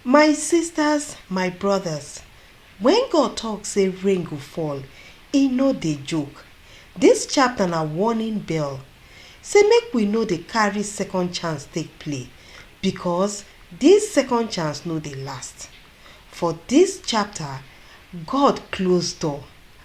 My sisters, my brothers, when God talk say rain go fall, e no dey joke. This chapter na warning bell say make we no dey carry second chance take play because this second chance no dey last. For this chapter, God close door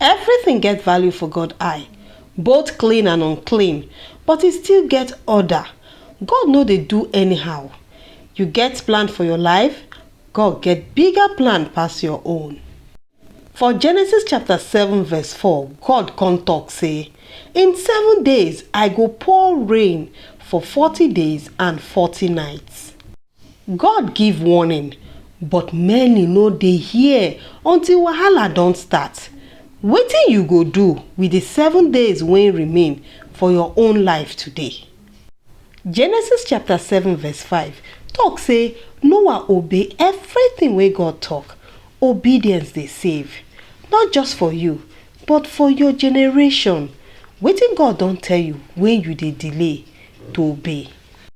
Everything get value for God eye, both clean and unclean, but e still get order. God no dey do anyhow. You get plan for your life, God get bigger plan pass your own. For Genesis chapter 7 verse 4, God come talk say, In seven days I go pour rain for 40 days and 40 nights. God give warning but many no dey hear until wahala don start. Wetin you go do with the seven days wey remain for your own life today? Genesis chapter 7 verse 5 talk say Noah obey everything wey God talk. Obedience dey save, not just for you, but for your generation. Wetin God don tell you wey you dey delay to obey?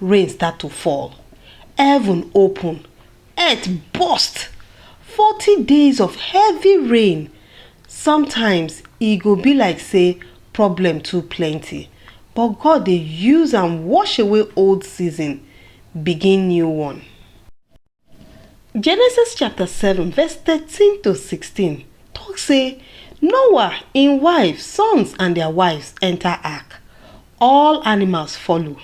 rain start to fall, heaven open, earth burst, forty days of heavy rain. Sometimes e go be like say problem too plenty, but God dey use am wash away old season, begin new one. Genesis chapter 7 verse 13 to 16 talk say Noah, im wife, sons and their wives enter ark. All animals follow.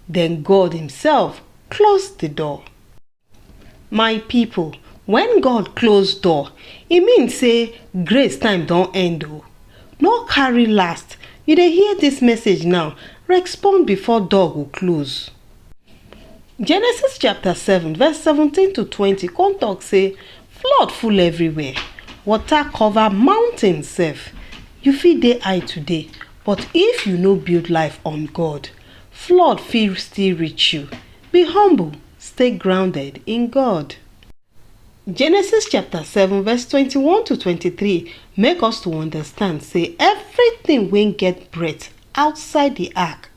Then God himself close the door. My people, when God close door, e mean say grace time don end o. No carry last. You dey hear this message now, respond before door go close. Genesis chapter 7 verse 17 to 20 come talk say flood full everywhere, water cover mountain sef. You fit dey high today but if you no build life on God, flood fit still reach you. Be humble, stay grounded in God. Genesis chapter 7 verse 21 to 23 make us to understand say everything wey get breath outside the ark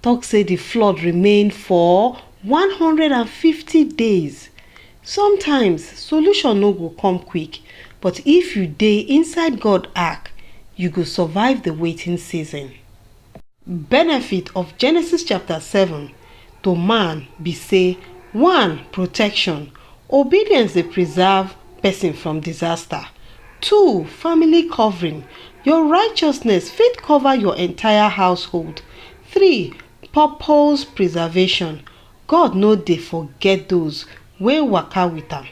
tok say di flood remain for one hundred and fifty days. Sometimes, solution no go come quick, but if you dey inside God ark, you go survive di waiting season. Benefit of Genesis chapter seven to man be say, one Protection, Obedience dey preserve pesin from disaster. Two Family covering, Your righteousness fit cover your entire household. Three, purpose preservation, God no dey forget those wey waka with am.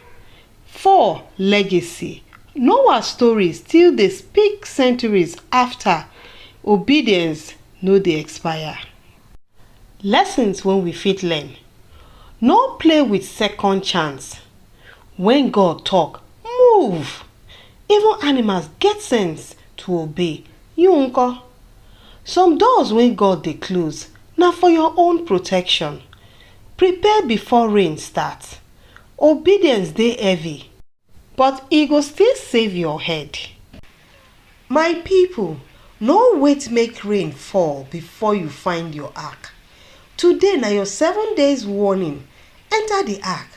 Four, legacy, Noah story still dey speak centuries after, obedience no dey expire. Lessons wey we fit learn, No play with second chance, when God talk, move! Even animals get sense to obey, You nko? Some doors wey God dey close na for your own protection. Prepare before rain start. Obedience dey heavy, but e go still save your head. My people, no wait make rain fall before you find your ark. Today na your seven days warning, enter the ark,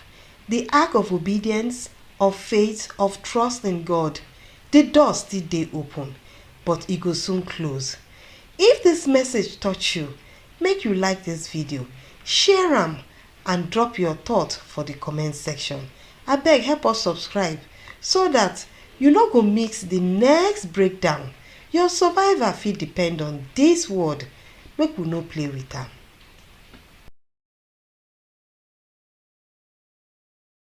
the ark of obedience, of faith, of trust in God. Di door still dey open, but e go soon close. If dis message touch you, make you like dis video, share am and drop your thought for di comment section. Abeg help us subscribe so dat you no go miss di next breakdown, your survival fit depend on dis word, make we no play with am.